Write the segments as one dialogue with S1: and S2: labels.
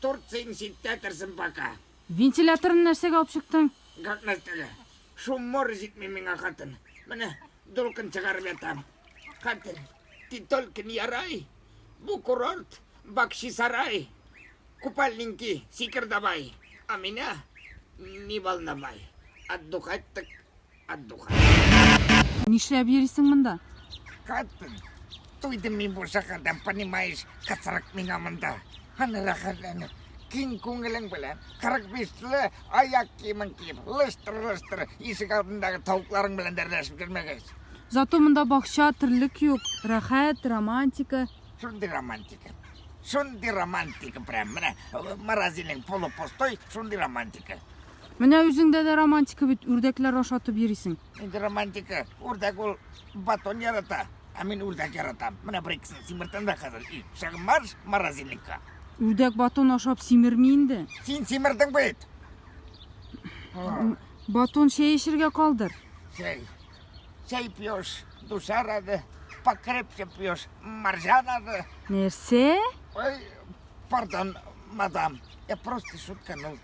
S1: Торт син читтәтерсең пока. Вентиляторны
S2: нәрсәгә алып чыктың? Как нәрсәгә?
S1: Шуммор җитми миңа хатын. Менә дулкын чыгарып ятам. Хатын, ти только не ярай. Бу курорт, бакчи сарай. Купальники, сикер давай. А меня не волновай. Отдухать так
S2: Нишләп йөрисең монда? Каттым.
S1: Туйдым мин бу шәһәрдән, понимаешь, кысрык миңа монда. Аны рәхәтләнеп, киң күңелең белән, 45-ле аяк киемен киеп, лыштыр-лыштыр ишек алдындагы тавыкларың белән дәрләшеп йөрмәгәч. Зато монда
S2: бакча, терлек юк, рәхәт, романтика. Шундый романтика.
S1: Шундый романтика прям. Менә морозильник полупустой, шундый романтика. Менә үзеңдә
S2: дә романтика бит, үрдәкләр ашатып йөрисең. Инде романтика.
S1: Үрдәк ул батон ярата, ә мин үрдәк яратам. Менә бер икесен симертәм дә хәзер. И, шагы марш морозильникка. Үрдәк батон
S2: ашап симерми инде. Син симердең бит. Батон чәй эчергә калдыр. Чәй.
S1: Чәй пьешь, душа рады. Покрепче пьешь, маржа рады. Нәрсә?
S2: Ой,
S1: пардон, мадам. Я просто шутканул.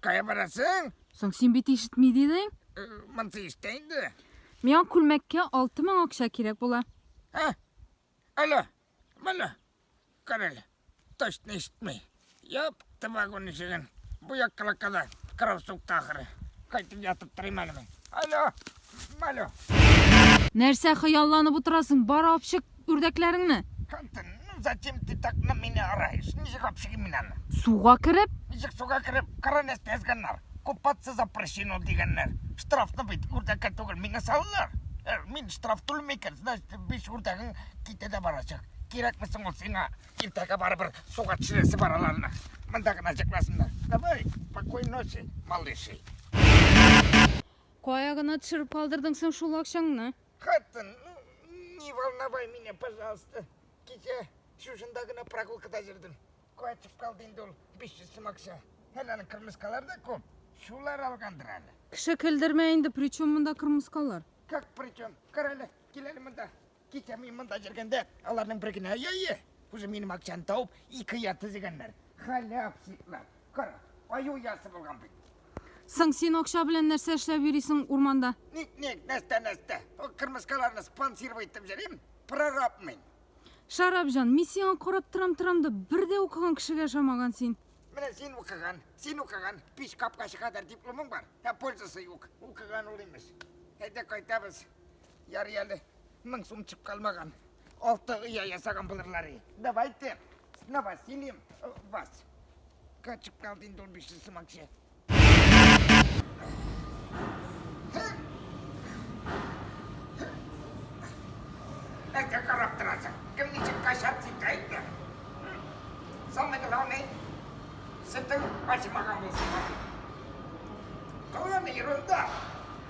S2: Кая барасың?
S1: Соң син бит
S2: ишетми дидең? Э, Монсы ишетә
S1: инде. Миңа
S2: күлмәккә 6000 акча кирәк була. Ә?
S1: Алло, моны. Карале. Точно ишетми. Япты вагон ишеген. Бу як калакада. Кырау сукты ахыры. Кайтып ятып торыйм әле мин. Алло,
S2: Нәрсә хыялланып утырасың? Бар апчык үрдәкләреңне. Кантын, ну
S1: зачем ты так на меня орешь? Ничек апчыгым мин аны? Суга кереп?
S2: Ничек суга кереп?
S1: Кара нәрсә язганнар. Купаться запрещено дигәннәр. Штрафны бит үрдәккә түгел, миңа салалар. Э, мин штраф түләмим икән, значит, биш үрдәгең китә дә барачак. Кирәкме соң ул сиңа? Иртәгә барыбер суга төшерәсе бар аларны. Монда гына җыкласыннар. Давай, спокойной ночи, малыши.
S2: Кая гына төшереп калдырдың соң шул акчаңны? Хатын, ну,
S1: не волновай меня, пожалуйста. Кичә шушында гына прогулкада йөрдем. Кайтып калды инде ул 500 сум акча. Әле аның кырмыскалары да күп. Шулар алгандыр әле. Кеше көлдермә
S2: инде, причем монда кырмыскалар? Как причем?
S1: Кара әле, кил әле монда. Кичә мин монда йөргәндә, аларның бер генә яе, үзе минем акчаны табып, ике я төзегәннәр. Халәп сипләп. Кара, аю ясы булган бит. Соң син
S2: акча белән нәрсә эшләп йөрисең урманда? Ник-ник,
S1: нәрсә-нәрсә. Ул кырмыскаларны спонсировать итеп йөрим, прораб мин. Шарап җан,
S2: мин сиңа карап торам-торам да, бер дә укыган кешегә ошамаган син. Менә син укыган,
S1: син укыган, пич капкачы кадәр дипломың бар, ә пользасы юк. Укыган ул имеш. Әйдә кайтабыз. Ярый әле, мең сум чып калмаган. Алты оя ясаган булырлар. Давайте с новосельем э, вас. Качып калды инде ул биш йөз сум акча. Әйдә карап торасың. Кем ничек качап тик әйтте. Самый главный, сетең ачмаган булсын. Главное ерунда.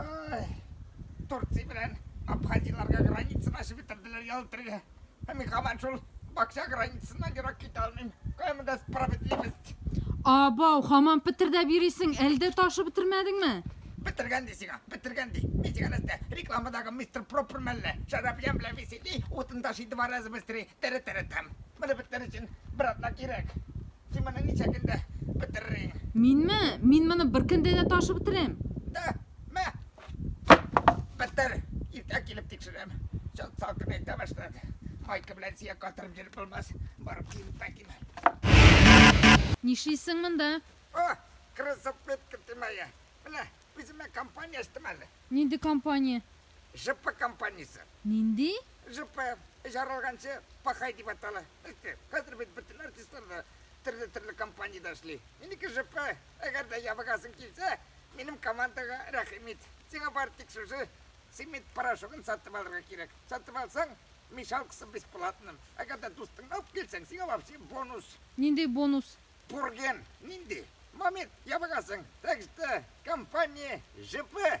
S1: Ай, Турция белән Абхазияләргә границаны ачып бетерделәр ял итәргә. Ә мин һаман шул бакча границасыннан ерак китә алмыйм. Кая монда справедливость?
S2: Абау, хаман петердәп
S1: йөрисең,
S2: әле дә ташып бетермәдеңме?
S1: Бетергән ди сиңа, бетергән ди. Мин сиңа нәрсә, рекламадагы мистер Пропер мәллә? Шәраб ямь белән весели, утын ташый два раза быстрее, тәрә-тәрә тәм. Моны бетерер өчен бер атна кирәк. Син моны ничә көндә бетерерсең? Минме? Мин
S2: моны бер көндә дә ташып бетерәм. Да, мә!
S1: Бетер! Иртә килеп тикшерәм. Чат салкынайта башлады. Майка белән сөяк катырып йөреп булмас. Барып киенеп кайтыйм. Нишлисең
S2: монда? О,
S1: кроссовпедка тимәе. Менә, үземә компания ачтым әле. Нинди компания?
S2: ЖП
S1: компаниясе. Нинди?
S2: ЖП,
S1: җаралганчы пахай дип атала. Әйтте, хәзер бит бөтен артистлар да төрле-төрле компаниядә эшли. Минеке ЖП, әгәр дә ябыгасың килсә, минем командага рәхим ит. Сиңа бары тик шушы цемент порошогын сатып алырга кирәк. Сатып алсаң, мешалкасы бесплатно. Әгәр дә дустыңны алып килсәң, сиңа вообще бонус. Нинди бонус?
S2: Пурген.
S1: Нинди? Момент, ябыгасың. Так что, компания ЖП,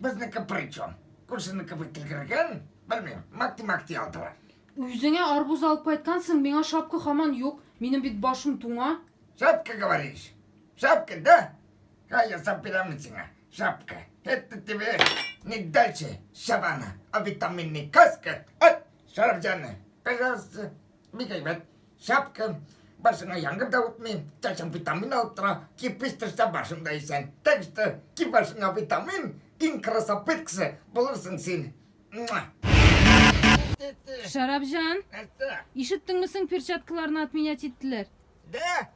S2: Безнеке причем?
S1: Күршенеке бик тилгергән, белмим, макти-макти алдылар. Үзеңә арбуз
S2: алып кайткансың, миңа шапка хаман юк. Минем бит башым туңа. Шапка говоришь?
S1: Шапка, да? А я сам бирәм сиңа. Шапка. Это тебе не дальше шабана, а витаминный каска. Ай, шарап җаны. Пожалуйста, бик әйбәт. Шапкам, башыңа яңгыр да үтми, чәчең витамин алып тора, кирпич төшсә башың да исән. Так что, ки башыңа витамин, иң красопыт кеше булырсың син. Муа!
S2: Шәрабҗан, Нәрсә? ишеттеңме соң перчаткаларны отменять иттеләр? Дә,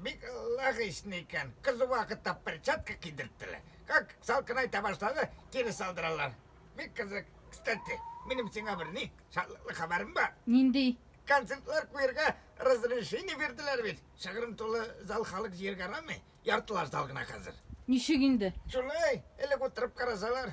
S1: бик логично икән. Кызу вакытта перчатка кидерттеләр. Как салкын айта башлады, кире салдыралар. Бик кызык. Кстати, минем сиңа бер ни, шатлыклы хәбәрем бар. Нинди?
S2: Концертлар куярга
S1: разрешение бирделәр бит. Шыгрым тулы зал халык җыярга ярамый. Яртылаш зал гына хәзер. Ничек инде?
S2: Шулай,
S1: элек утырып карасалар,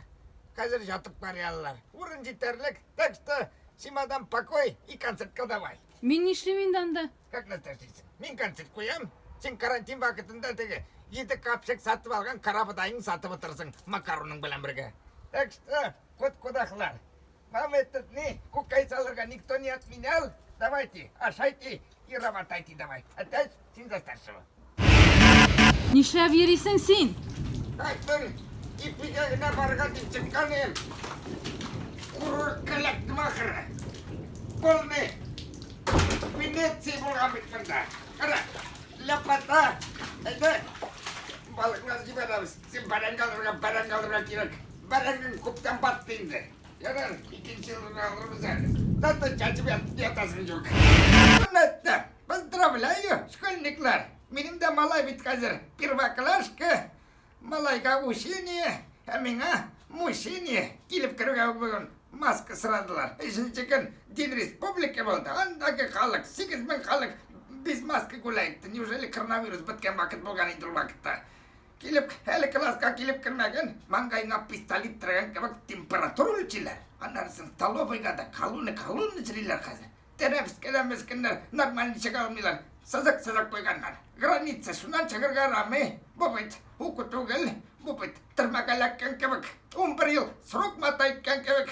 S1: хәзер ятып карый алалар. Урын җитәрлек, так что симадан покой и концертка давай. Мин нишлим инде
S2: анда? Как нәрсә эшлисең?
S1: Мин концерт куям, син карантин вакытында теге җиде капчык сатып алган карабодайны сатып утырырсың макароның белән бергә. Так что, кут-кудаклар, Нам этот не кукай салырга никто не отменял. Давайте, ашайте и работайте давай. Опять син за старшего.
S2: Нишләп йөрисең син? Так бер ипигә генә барырга
S1: дип чыккан ем. Курорт кәләктем ахыры. Полный Венеция булган бит монда. Кара, ләпата, әйдә, балыклар җибәрәбез. Син бәрәңге алырга, бәрәңге алырга кирәк. Бәрәңгең күптән батты инде. Ярар, икенче елны алырбыз әле. Зато чәчеп ятасың юк. Хөрмәтле Поздравляю, школьниклар! Минем дә малай бит хәзер первоклашка, малайга учение, ә миңа мучение. Килеп керүгә үк бүген маска сорадылар. Өченче көн Дин республики булды. Андагы халык, 8000 халык без маска гуляйт. Неужели коронавирус беткән вакыт булган инде ул вакытта? Килеп, әле класска килеп кермәген, маңгайына пистолет терәгән кебек температура үлчиләр. Аннары сон столовыйга да колонны колонны җырлыйлар хәзер. Терәп кенә мескеннәр нормаль ничек алмыйлар. Сызык сызык куйганнар. Граница шуннан чыгарга ярамый. Бу бит уку түгел, бу бит төрмәгә эләккән кебек. Унбер ел срок матайткан кебек.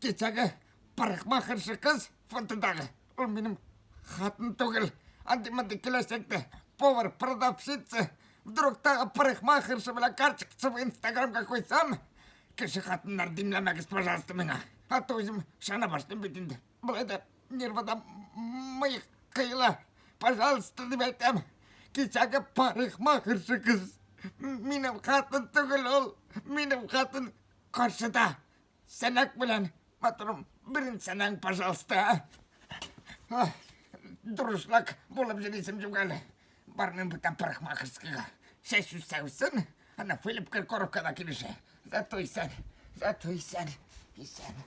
S1: Кичәге парикмахерша кыз фотодагы, ул минем хатын түгел. Андый-мондый киләчәктә повар, продавщица, вдруг тагы парикмахерша белән карточкасы в инстаграмга куйсам, кеше хатыннар димләмәгез, пожалуйста, миңа. А то үзем шана башлыйм бит инде. Болай да нервадан мыек кыела. Пожалуйста, дип әйтәм. Кичәге парикмахерша кыз. Минем хатын түгел ул. Минем хатын каршыда. Сәнәк белән, матурым, берен сәнәң, пожалуйста. А? Дурышлак булып җирисем юк әле. Бармыйм бүтән парикмахерскийга. Чәч үсәүсен, ана Филипп Киркоровкада килешә. Зато исән, зато исән, исән.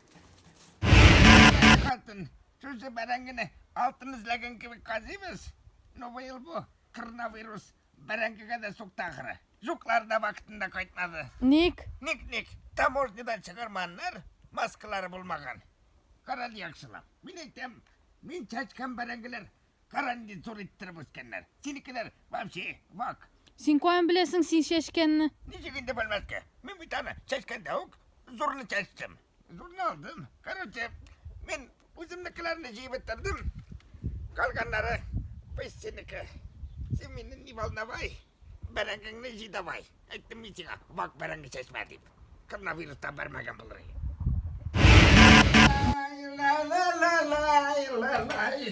S1: Хатын, шушы бәрәңгене алтын эзләгән кебек казыйбыз. Ну, быел бу коронавирус Бәрәңгегә дә сукты ахыры. Жуклар да вакытында кайтмады. Ник? Ник,
S2: ник?
S1: Таможнядан чыгарманнар, маскалары булмаган. Карале яхшылап. Мин әйтәм, мин чачкан бәрәңгеләр карандин зур иттереп үскәннәр. Синекеләр вообще вак. Син каян беләсең
S2: син чәчкәнне? Ничек инде белмәскә?
S1: Мин бит аны чәчкәндә үк зурны чәчтем. Зурны алдым. Короче, мин Үземнекеләрне җыеп бетердем. Калганнары без синеке. Син мине не волновай, бәрәңгеңне җый давай. Әйттем мин сиңа, вак бәрәңге чәчмә дип. Коронавирустан бәрмәгән булыр иде.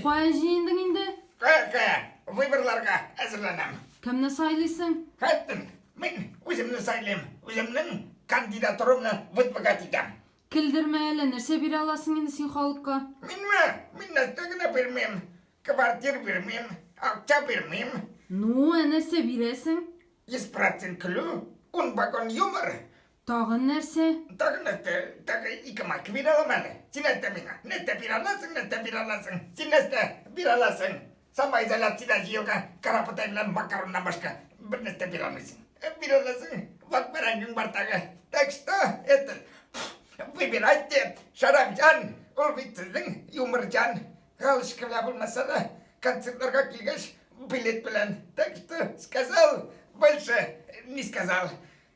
S2: Кая җыендың инде? Кая, кая?
S1: Выборларга әзерләнәм. Кемне сайлыйсың?
S2: Кайттым.
S1: Мин үземне сайлыйм. Үземнең кандидатурамны выдвигать итәм. Көлдермә әле,
S2: нәрсә бирә аласың инде син халыкка? Минме? Мин
S1: нәрсә генә бирмим. Квартир бирмим, акча бирмим. Ну, ә нәрсә
S2: бирәсең? Йөз процент
S1: көлү, ун вагон юмор. Тагын нәрсә?
S2: Тагын нәрсә,
S1: тагы ике майка бирә алам әле. Син нәрсә миңа, нәрсә бирә аласың, нәрсә бирә аласың? Син нәрсә бирә аласың? самоизоляцияда җыелган карапотай белән макароннан башка бер нәрсә бирә алмыйсың. Э, бирә аласың, вак бәрәңгең бар тагы. Так что, это, выбирайте, Шәрәфҗан, ул бит сезнең юморҗан. Галочка белән булмаса да, концертларга килгәч, билет белән. Так что, сказал, больше не сказал.